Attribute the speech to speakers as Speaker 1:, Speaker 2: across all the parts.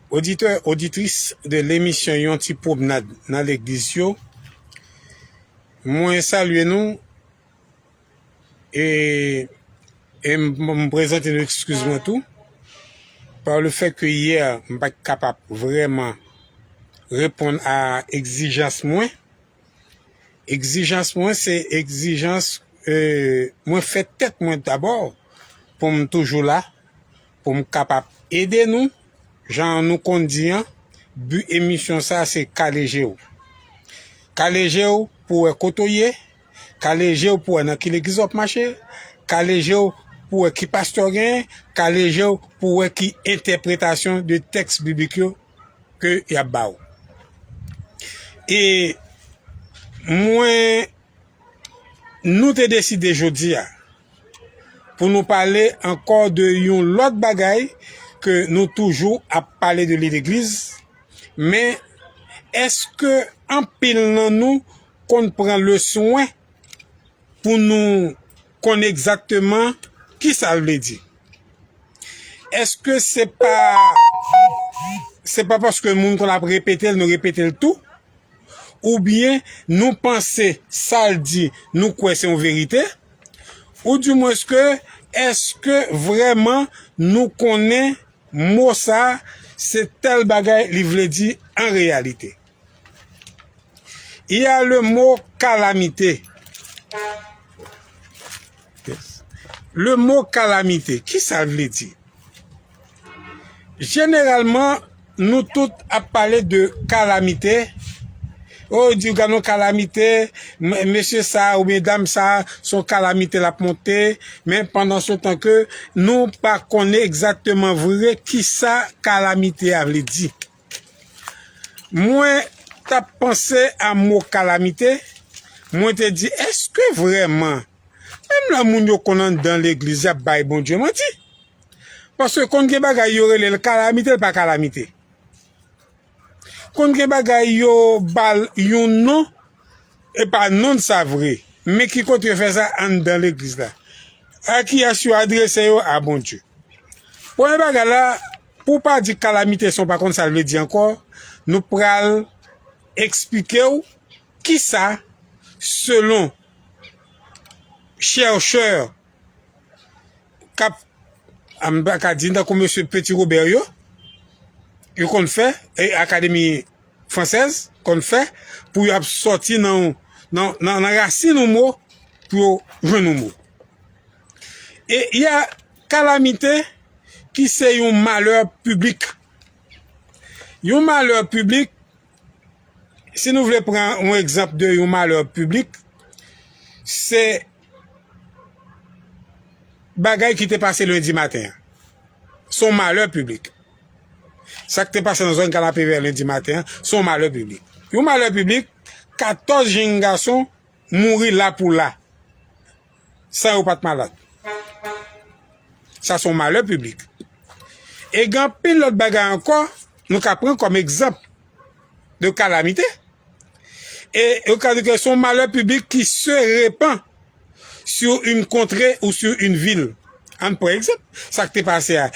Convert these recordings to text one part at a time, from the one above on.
Speaker 1: Oditè, oditris de lemisyon yon ti pwomnad nan legliz yo, mwen salye nou e m prezante nou ekskiz mwen tou pa le fè ke yè m pa t kapab vreman reponn a ekzijans mwen. Ekzijans mwen se ekzijans mwen fè tèt mwen dabò pou m toujou la. Pou m kapab ede nou, jan nou konn di an, bi emisyon sa se kale je w. Kale je w pou w wè kote w ye, kale je w pou w wè nan ki legliz w ap mache, kale je w pou w wè ki pastè w genyen, kale je w pou w wè ki entèpretasyon de tèks biblik yo ke y ap ba w. E mwen, nou te deside jodi a. pou nou pale ankò de yon lòt bagay ke nou toujou ap pale de li legliz, men èske anpil nan nou konn pran le swen pou nou konn egzakteman ki sa l vle di? Èske se pa se pa paske moun konn ap repete l nou repete l tou? Oubyen nou panse sa l di nou kwè se yon verite? Ou di mwens ke eske vreman nou konnen mo sa se tel bagay li vle di an reyalite. Y a le mo kalamite. Le mo kalamite, ki sa l vle di? Jeneralman, nou tout ap pale de kalamite, o yo diw gad yon kalamite, mesye sa a oubyen dam sa a se yon kalamite l ap monte, men pandan se tan ke nou pa konnen egzakteman vre kisa kalamite a vle di. Mwen t ap panse a mo kalamite, mwen te di eske vreman Menm lè moun yo konn anndan legliz y ap bay Bondye manti. Paske konn gen bagay yo rele l kalamite l pa kalamite. Konn gen bagay yo ba l yon non e pa non sa vre. Men ki kote yo fè sa anndan legliz la. A ki yès yo adrese yo a Bondye. Premye bagay la pou w pa di kalamite san w pa konn sa l vle di ankò nou pral eksplike w kisa selon chèrchè k ap, a m pa ka di n tankou mesye Petit-Robert yo, yo konn fè, e akademi fransèz konn fè pou y ap sòti nan nan rasin yon mo pou yo jwenn yon mo. E y a kalamite ki se yon malè piblik. Yon malè piblik. si nou vle pran yon egzanp de yon malè piblik, se bagay ki te pase lendi maten an. Se yon malè piblik. Sa ki te pase nan zòn Kanapevè lendi maten an, se yon malè piblik. Yon malè piblik, 14 jenn gason mouri lapoula. san yo pa t malad. Sa se yon malè piblik. E gen anpil lòt bagay ankò nou ka pran kòm egzanp de kalamite. E yo ka di ke se yon malè piblik ki se repan sou yon kontre ou sou yon vil. An pran egzanp sa ki te pase a.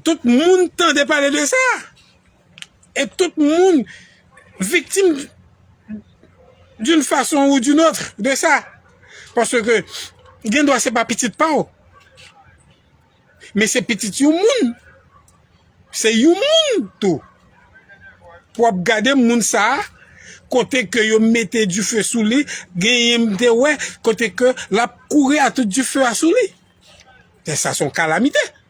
Speaker 1: Tout moun tande pale de sa. Et tout moun viktim d'une façon ou d'une autre de sa. Parce que gen dwa se pa pitit pa ou. Men se pitit yon moun. Se yon moun tou. Pou ap gade moun sa a, kote ke yo mete du feu sou li, gen yon mte wè, kote ke l ap kouri a tout du feu a sou li. Sa son kalamite.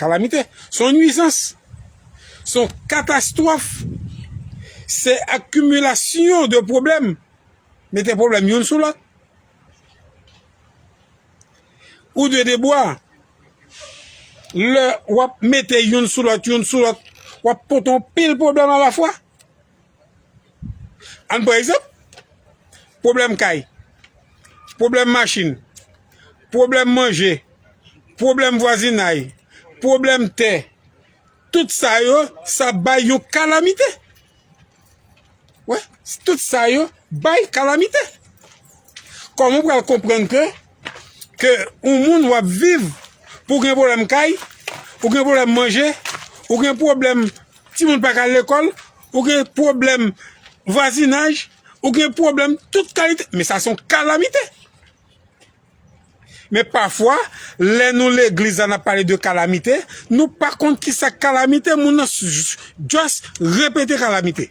Speaker 1: Kalamite. Se yon nwizans. Se yon katastwòf. Se akimilasyon de pwoblèm. Mete pwoblèm youn sou lòt. Ou dwe debwa. Lè w ap mete youn sou lòt, youn sou lòt, w ap pote yon pil pwoblèm alafwa. Ann pran egzanp, pwoblèm kay, pwoblèm machin, pwoblèm manje, pwoblèm vwazinay, pwoblèm tè, tout sa yo, sa bay yon kalamite. Wè, tout sa yo bay kalamite. Kòman ou pral konprann ke ke yon moun w ap viv pou w gen pwoblèm kay, ou gen pwoblèm manje, ou gen pwoblèm timoun pa ka al lekòl, ou gen pwoblèm vwazinaj, ou gen pwoblèm tout kalite. Men sa se yon kalamite. Men pafwa, lè nou legliz la n ap pale de kalamite, nou pa konn ki sa kalamite, moun nan just repete kalamite.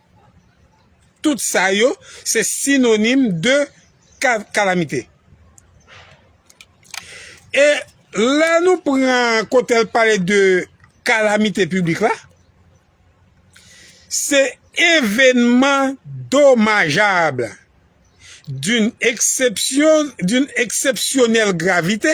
Speaker 1: Tout sa yo se sinonim de kalamite. E lè nou pran kote l pale de kalamite piblik la, se evenman domajab d'une eksepsyonèl gravite.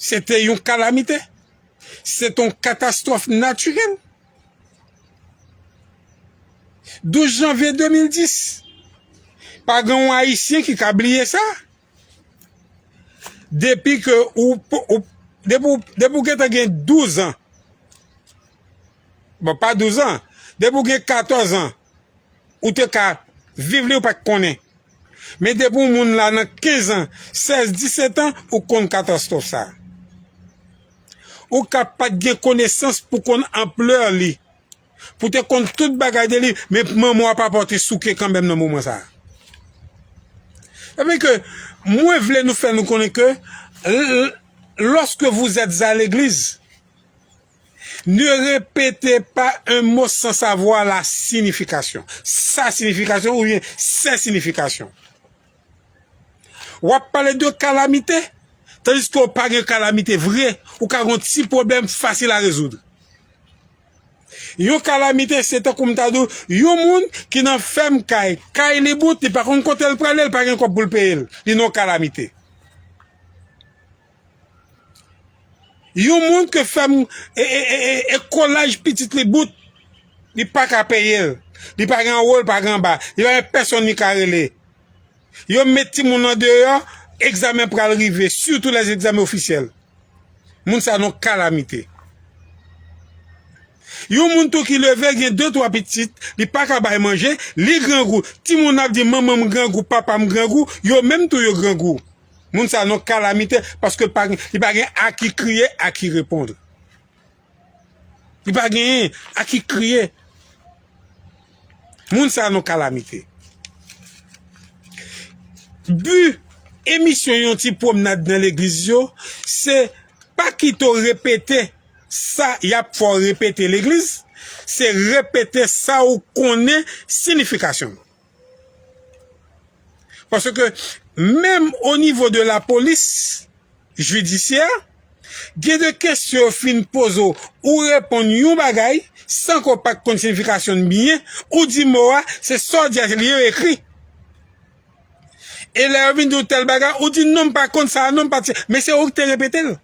Speaker 1: Se te yon kalamite. Se te yon katastwòf natirèl. 12 janvye 2010, pa gen yon Ayisyen ki ka bliye sa. Depi ke ou, depi ou gentan gen 12 an, bon pa 12 an, depi ou gen 14 an, ou te ka viv li ou pat konnen men depi yon moun la nan 15 ans 16 17 ans ou konn katastwòf sa ou ka pat gen konesans pou konn ampleur li pou te konn tout bagay de li men manman w a papa w te souke kanmèm nan moman sa epi ke mwen vle nou fè nou konnen ke loske vous etes a l'église Ne repete pa un mo san savwa la sinifikasyon, sa sinifikasyon oubyen sè sinifikasyon. Wap pale de kalamite, tandiske ou pa gen kalamite vre, ou ka gen yon ti pwoblèm fasil a rezoud. Yon kalamite se tankou m ta di w, yon moun ki nan fèm kay, kay li bout, li pa konn kote l prale, li pa gen kòb pou l peye l, li nan yon kalamite. Yon moun ke fèm e kolaj pitit li bout, li pa ka peye l. Li pa gen anwo, li pa gen anba. Li pa gen pèsonn li ka rele. Yo met timoun nan deyò, egzamen pral rive, sitou lè se egzamen ofisyèl. Moun sa nou kalamite. Yon moun tou ki leve gen de twa pitit, li pa ka bay manje, li grangou. Timoun ap di manman m grangou, papa m grangou, yo menm tou yo grangou. Moun sa non kalamite paske li pa gen a ki kriye a ki repondre. Li pa gen a ki kriye. Moun sa non kalamite. Bu emisyon yon ti pwomnad nan legliz yo se pa kite w repete sa y ap fè w repete legliz, se repete sa ou konnen sinifikasyon l. Pase ke menm o nivo de la polis jidisyè, gen de kesyon yo fin poze w, ou reponn yon bagay san ke w pa t konn siyifikasyon l byen, ou di mo a, se sa w di a se li yo ekri. E lè yo vin di w tèl bagay, ou di non m pa konn sa a non, men se ou ki te repete l.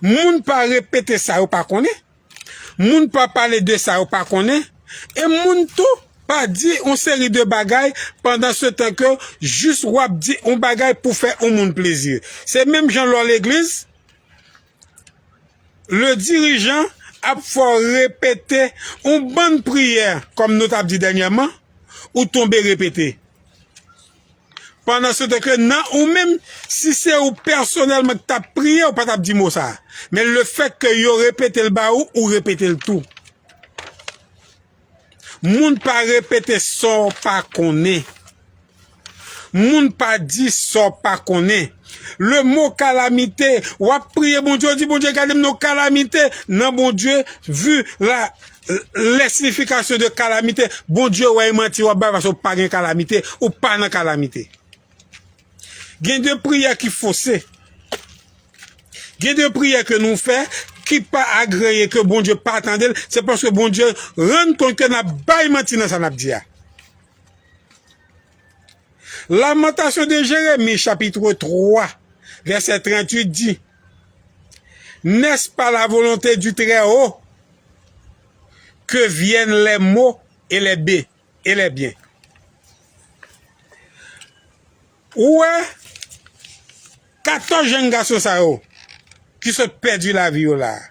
Speaker 1: Moun pa repete sa yo pa konnen, moun pa pale de sa yo pa konnen, e moun tou pa di yon seri de bagay pandan se tan ke jis w ap di yon bagay pou fè yon moun plezi. Se menm jan lè w legliz, le dirijan ap fè w repete yon bann priyè, kòm nou t ap di dènyèman, ou tonbe repete. Pandan se tan ke nan ou menm, si se ou pèsonèlman ki tap priye, ou pa tap di mo sa. Men le fèt ke yo repete l ba ou, ou repete l tou. Moun pa repete sa w pa konnen. Moun pa di sa w pa konnen. Le mo kalamite, wap priye Bondye, ou di Bondye gade m nan yon kalamite, nan Bondye vu la. Les significations de calamite, Bondye wè e manti wap bay paske ou pa gen kalamite, ou pa nan kalamite. Gen de priyè ki fose. Gen de priyè ke nou fè ki pa agreye ke Bondye pa tande l, se paske Bondye rann kont ke nap bay manti nan sa nap di a. Lamentation de Jérémie chapitre 3 verset 38 di. N'est-ce pas la volonté du très haut que viennent les maux et les biens? Ou wè 14 jenn gason sa yo ki sot pèdi lavi yo la a.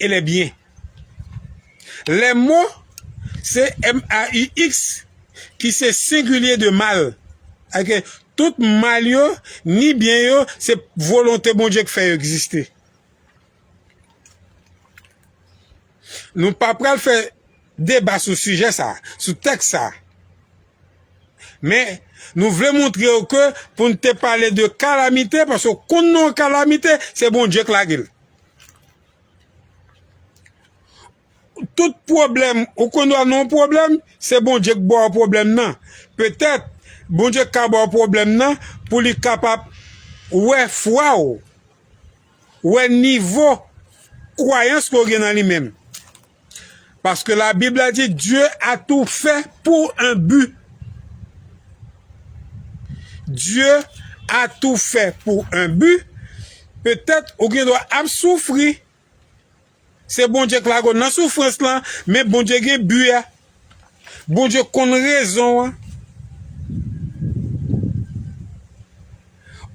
Speaker 1: E lè byen. Lè mo, se m-a-u-x, ki se sengilye de mal, ake tout mal yo, ni byen yo, se volonte Bondye k fè yo egziste. Nou pa pral fè deba sou sijè sa a, sou tèks sa a. Men, nou vle montre ou ke pou n te pale de kalamite, paske ou konn non kalamite, se Bondye k lage l. Tout pwoblèm, ou konn lwa nan yon pwoblèm, se Bondye k ba w pwoblèm nan. Petèt, Bondye ka ba w pwoblèm nan pou li kapab wè fwa w, wè nivo kwayans ke w gen nan li menm. Paske la bib la di Dieu a tou fè pour un but. Dieu a tou fè pour un but. Petèt ou gen dwa ap soufri. Se Bondye k lague w nan soufrans lan, men Bondye gen but a. Bondye konn rezon an.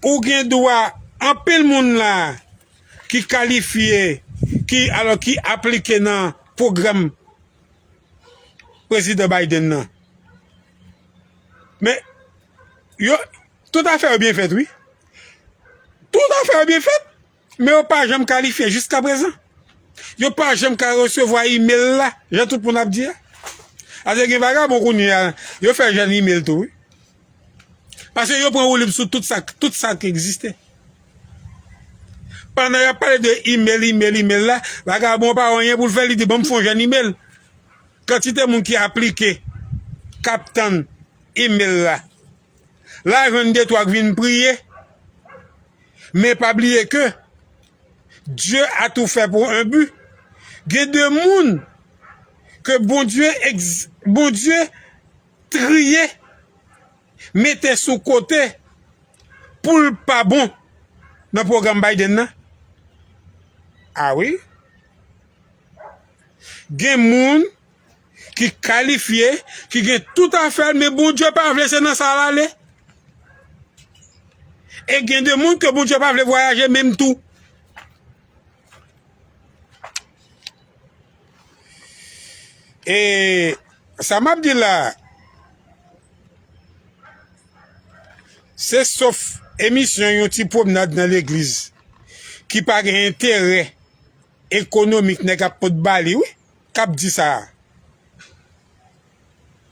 Speaker 1: Ou gen dwa anpil moun la. ki kalifye ki alò ki aplike nan pwogram Prezidan Biden nan. Men yo tout afè yo byen fèt wi. Tout afè yo byen fèt men yo pa janm kalifye jiska prezan. Yo pa janm ka resevwa email la jan tout moun ap di a. Ase gen vagabon kounye a yo fè jèn email tou wi. Paske yo pran woulib sou tout sa, tout sa ki egziste. Pandan y ap pale de imel, imel, imel la, vagabon pa wè anyen pou l fè, li di banm fon jèn imel. Kantite moun ki aplike, k ap tann imel la. La jwenn de twa k vin priye. Men pa bliye ke, Dye a tou fè pou en bi. Gen de moun ke Bondye, Bondye Triye, mete sou kote pou l pa bon nan pwogram Biden nan. A wi. Gen moun ki kalifye, ki gen tout afè l men Bondye pa vle se nan sa l ale. E gen de moun ke Bondye pa vle vwayaje menm tou. E sa map di la se sof emisyon yon ti pwomnad nan legliz ki pa gen enterè ekonomik nèg ap pot ba li wi kap di sa.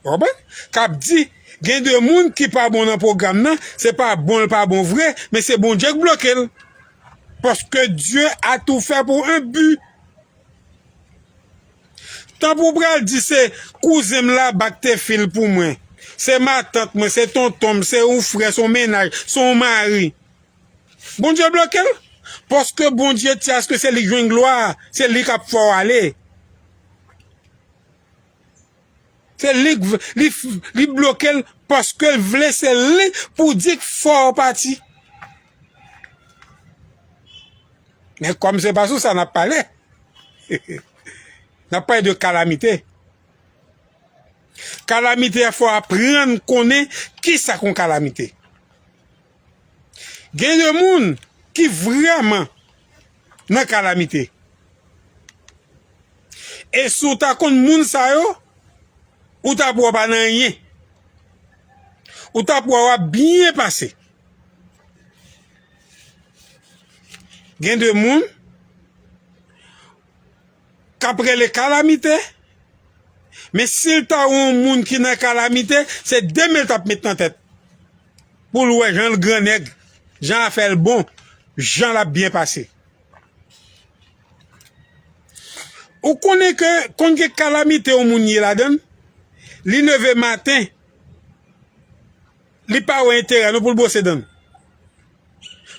Speaker 1: Ou konprann? Kap di gen de moun ki pa bon nan pwogram nan, se pa bon l pa bon vre, men se Bondye k bloke l. Paske Dye a tou fè pou un but. Tan pou w pral di se kouzen m la bak te fi l pou mwen, se matant mwen, se tonton m, se yon frè, se yon mennaj, se yon mari. Bondye bloke l. Paske Bondye ti aske se li k jwenn glwa a, se li kap fè w ale. Se li li blokel paskel vle se li pou di k fòw pati. Men kòm se pa sou sa nap pale nap pale de kalamite. Kalamite a fò aprann konnen kisa k on kalamite. Gen de moun ki vrèman nan kalamite. E si w ta konn moun sa yo, ou t ap wè w pa nan anyen. Ou t ap wè w ap byen pase. Gen de moun. K ap rele kalamite. Men si l ta yon moun ki nan kalamite, se de men l t ap met nan tèt pou l wè jan l grannèg, jan afè l bon, jan l ap byen pase. Ou konnen ke konn gen kalamite yon moun ye ladan l, li leve maten, li pa wè enterè non pou l bwose dan l.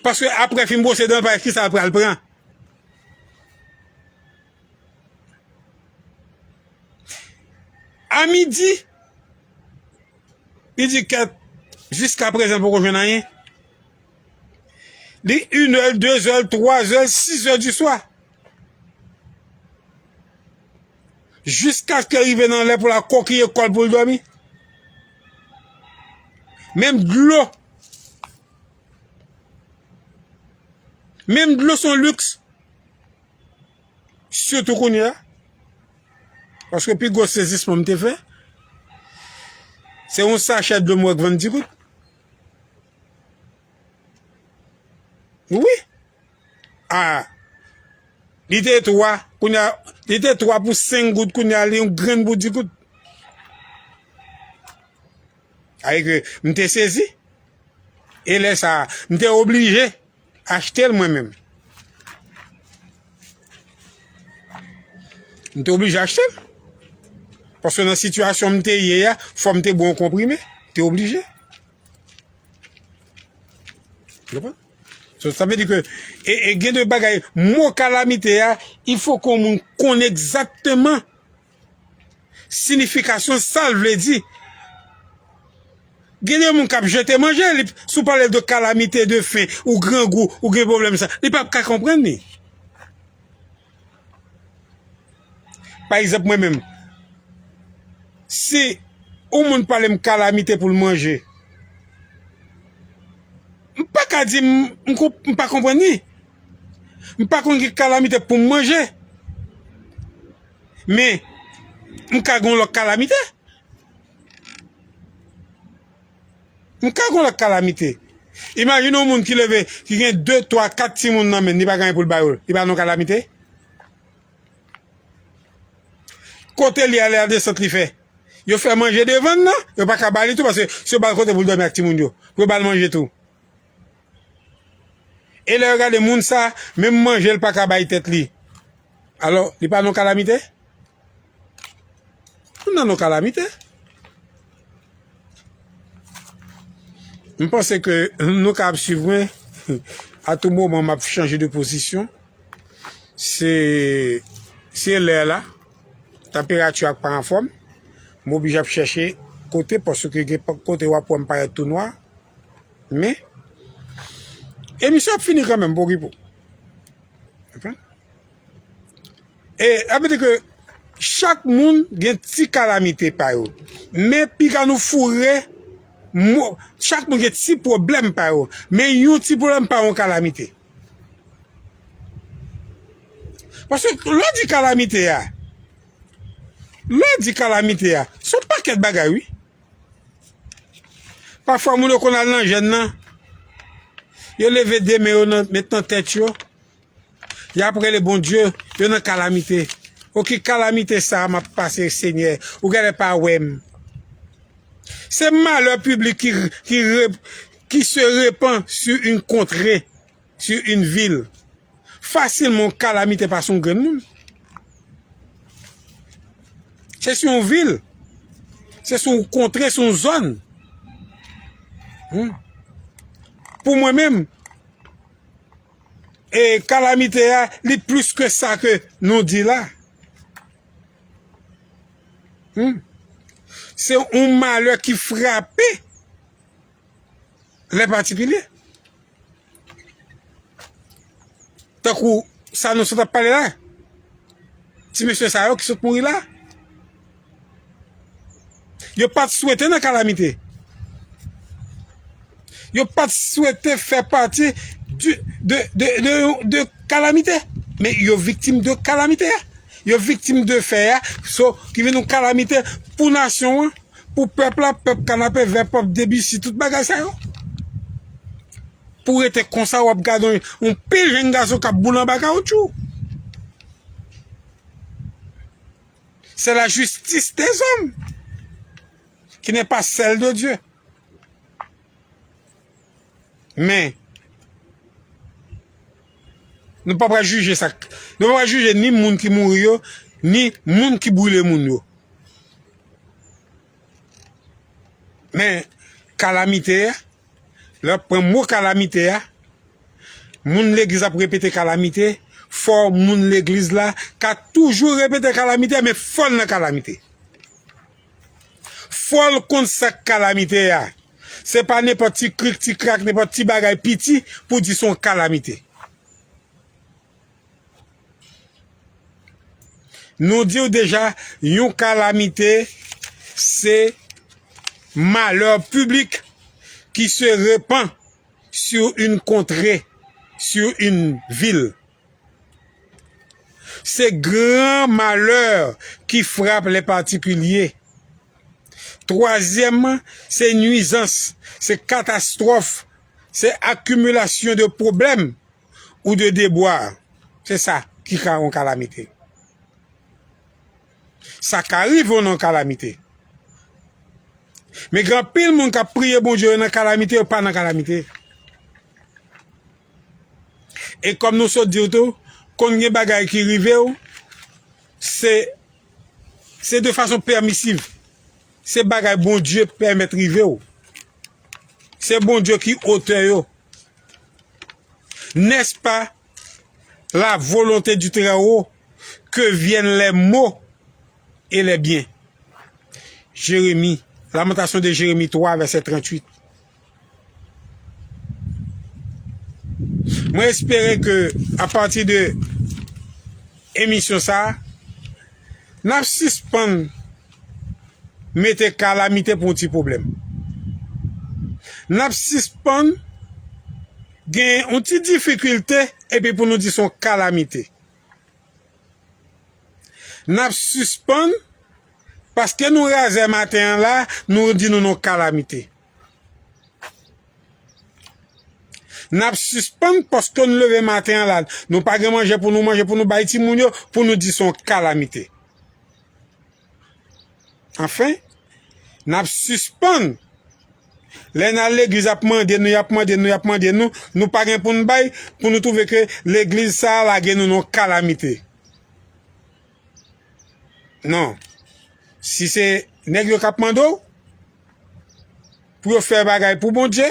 Speaker 1: Paske apre fin bwose dan l, pa ekri sa l pral pran. A midi, li di kèt, jiska prezan l poko jwenn anyen. Li inè l, dezè l, twazè l, sizè di swa. Jiskaske l rive nan lè pou l al kokiye kò l pou l dòmi. Menm dlo Menm dlo s on liks, sitou kounye a, paske pi gwo sezisman m te fè, se yon sachè dlo m wè k vann ti gout. Wi! A, li te 3, kounye a, li te 3 pou 5 gout, kounye a li yon grenn pou di gout. Sètadi ke m te sezi, e lè sa a, m te oblije achte l mwen menm. M te oblije achte l. Paske nan sitiyasyon m te ye a, fò m te bwè yon konprime. M te oblije. Konprann? So, sa vle di ke, e gen de bagay, mo kalamite a, il fò ke yon moun konn egzakteman Sinifikasyon sa l vle di. Gen de moun k ap jete manje, li, si w pale l de kalamite, de fen, ou grangou, ou gen pwoblèm sa, li p ap ka konprann li. Pa egzanp mwen menm, si yon moun pale m kalamite pou l manje, m pa ka di m, m pa konprann li. M pa konn ki kalamite pou m manje. Men, m ka gen yon lòt kalamite. M ka gen yon lòt kalamite. Imajine yon moun ki leve, ki gen 2, 3, 4 timoun nan men, li pa gen anyen pou l ba yo. Li pa nan yon kalamite? Kote li ale a desant li fè. Yo fè manje devan l nan, yo pa ka ba li tou paske si yo ba l kote pou l dòmi ak timoun yo, pou yo ba l manje tou. E lè yo gade moun sa, menm manje l pa ka bay tèt li. Alò, li pa nan kalamite? Moun nan nan kalamite. M panse ke nou ka ap swiv mwen. A tou moman m ap chanje de pozisyon. Se lè la. Tanperati a pa anfòm. M oblije ap chèche kote paske gen kote w ap wè m parèt tou nwa. Men, emisyon ap fini kanmenm pou Guipo. E, ap di ke, chak moun gen ti kalamite pa yo. Men, piga nou foure, chak moun gen ti pwoblèm pa yo. Men, yon ti pwoblèm pa yon kalamite. Paske, lò di kalamite a, lò di kalamite a, son pakèt bagay, wi. Pafwa moun yo konn al nan jèn nan, yo leve de men yo nan met nan tèt yo, yap rele Bondye, yo nan kalamite. O ki kalamite sa map pase Senyè, ou gèlè pa wè m. Se malè piblik ki se repan su yn kontre. Sur une ville. Fasilman yon kalamite pa sou yon grenn moun. Se sou yon vil. Se sou yon kontre, sou yon zòn. Pou mwen menm, e kalamite a, li plis ke sa ke nou di la. Se yon malè ki frape. lè patikilye. Tankou sa nou sot ap pale la, ti mesye sa yo ki sot mouri la, yo pat swete nan kalamite. Yo pat swete fè pati de kalamite. Men yo viktim de kalamite. Yo viktim de fè ya, so ki vin nou kalamite pou nasyon an. pou pèp la pèp kanapè vè pèp debisi tout bagay sa yo pou rete konsa wap gade yon pil jenn gason kap boule anba kawoutchou se la jistis de zòm ki ne pa sèl de Dye Men, nou pa pral jije sa k, nou pa pral jije ni moun ki mouri yo, ni moun ki brile moun yo. Men, kalamite a, lè w ap pran mo kalamite a, moun legliz ap repete kalamite, fò moun legliz la ka toujou repete kalamite, men fò l nan kalamite. Fòl konn sak kalamite a. Se pa nenpòt ti krik ti krak nenpòt ti bagay piti pou di son kalamite. Nou diw deja yon kalamite se malè piblik ki se repan sou yn kontre sou yn vil. Se gran malè ki frap lè patikilye. Twazyèmman, se nwizans, se katastwòf, se akimilasyon de pwoblèm ou de debwa. Se sa ki ka yon kalamite. Sa ka rive w nan kalamite. Men gen anpil moun k ap priye Bondye yo nan kalamite, yo pa nan kalamite. E kòm nou sot di w tou, kon gen bagay ki rive w, se se de fason pèmisiv. Se bagay Bondye pèmèt rive w. Se Bondye ki otè yo. Nès pa la volonte di Trèwo ke vyèn lè mo e lè byen. Jeremi, Lamentasyon de Jeremi 3 vèsè 38. Mwen espere ke a pati de emisyon sa, n ap sispann mete kalamite pou yon ti pwoblèm. N ap sispann gen yon ti difikilte epi pou nou di son kalamite. N ap sispann paske nou razè maten an la, nou di nou non kalamite. Nap sispann paske nou leve maten an la nou pa gen manje pou nou manje pou nou bay timoun yo pou nou di son kalamite. Anfen, nap sispann lè nan legliz ap mande nou yap mande nou yap mande nou nou pa gen pou nou bay pou nou twouve ke legliz sa lage nou nan kalamite. Non. Si se nèg yo k ap mande w pou yo fè bagay pou Bondye,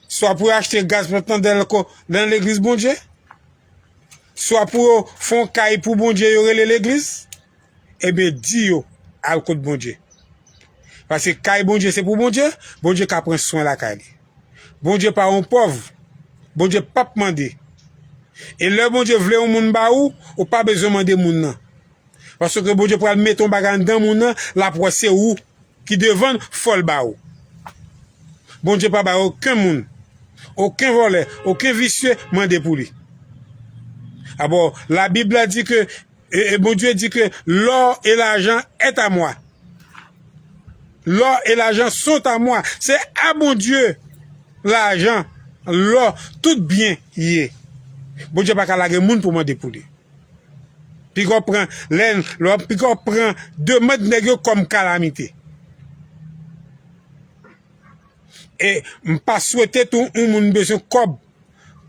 Speaker 1: swa pou yo achte gaz pou yo mete nan dèlko nan legliz Bondye, swa pou yo fè yon kay pou Bondye yo rele legliz, enben di yo al kot Bondye. Paske kay Bondye se pou Bondye, Bondye ka pran swen lakay li. Bondye pa yon pòv, Bondye pap mande. E lè Bondye vle yon moun ba ou, ou pa bezwen mande moun nan. Paske Bondye pral mete yon bagay anndan moun nan, lap wè se ou ki devann, fòl ba ou. Bondye pa bay oken moun, oken vòlè, oken visye mande pou li. Abò, labib la di ke. E Bondye di ke lò e lajan est a moi. Lò e lajan sont a moi. Se a Bondye lajan, lò, tout byen ye. Bondye pa ka lage moun pou mande pou li. Pika w pran lè, pika w pran demand nèg yo kòm kalamite. E m pa swete tou yon moun bezwen kòb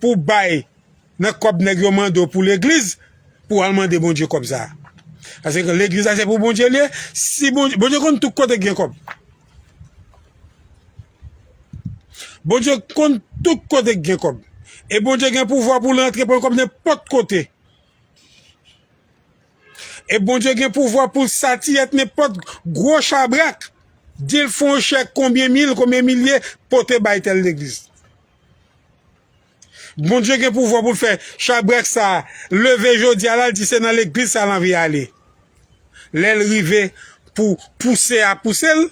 Speaker 1: pou bay. Nan kòb nèg yo mande w pou legliz pou al mande Bondye kòb sa. Pase ke legliz la se pou Bondye li ye, si Bondye, Bondye konn tout kote ki gen kòb. Bondye konn tout kote ki gen kòb. E Bondye gen pouvwa pou l antre pran kòb nenpòt kote. E Bondye gen pouvwa pou l satiyèt nenpòt gwo chabrak, di l fon chèk konbyen mil, konbyen milye pote bay tèl legliz. Bondye gen pouvwa pou l fè chabrak sa a leve jodi a la, l di se nan legliz sa a l anvi ale. Lè l rive pou pouse a pouse l,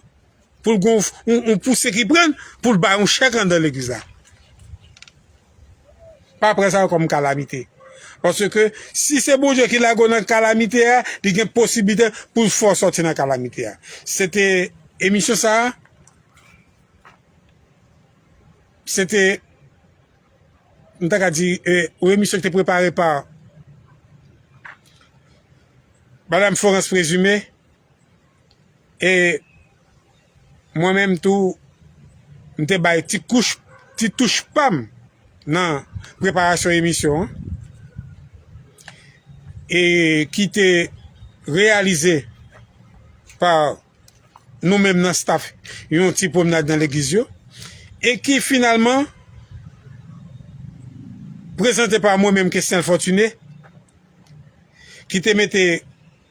Speaker 1: pou l gen yon pouse ki pran l, pou l bay yon chèk anndan legliz la. Pa pran sa kòm kalamite. Paske si se Bondye ki lage w nan kalamite a, li gen posiblite pou l fè w sòti nan kalamite a. Se te emisyon sa a. Se te, m ta ka di, yon emisyon ki te prepare pa Madam Florence Présumé e mwen menm tou m te bay ti kouch, ti touch pa m nan preparasyon emisyon an e ki te reyalize pa nou menm nan staff yon ti pwomnad nan legliz yo e ki finalman prezante pa mwen menm Kesnel Fortuné ki te mete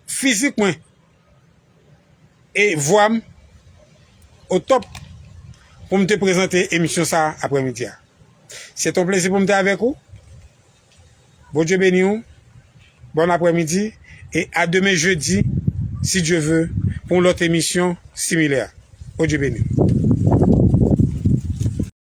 Speaker 1: fizik mwen e vwa m o top pou m te prezante emisyon sa aprè midi a. Se te yon plezi pou m te avèk ou. Bondye beniw bon aprè midi e a demen jedi si Dye ve pou yon lòt emisyon similè Bondye beniw.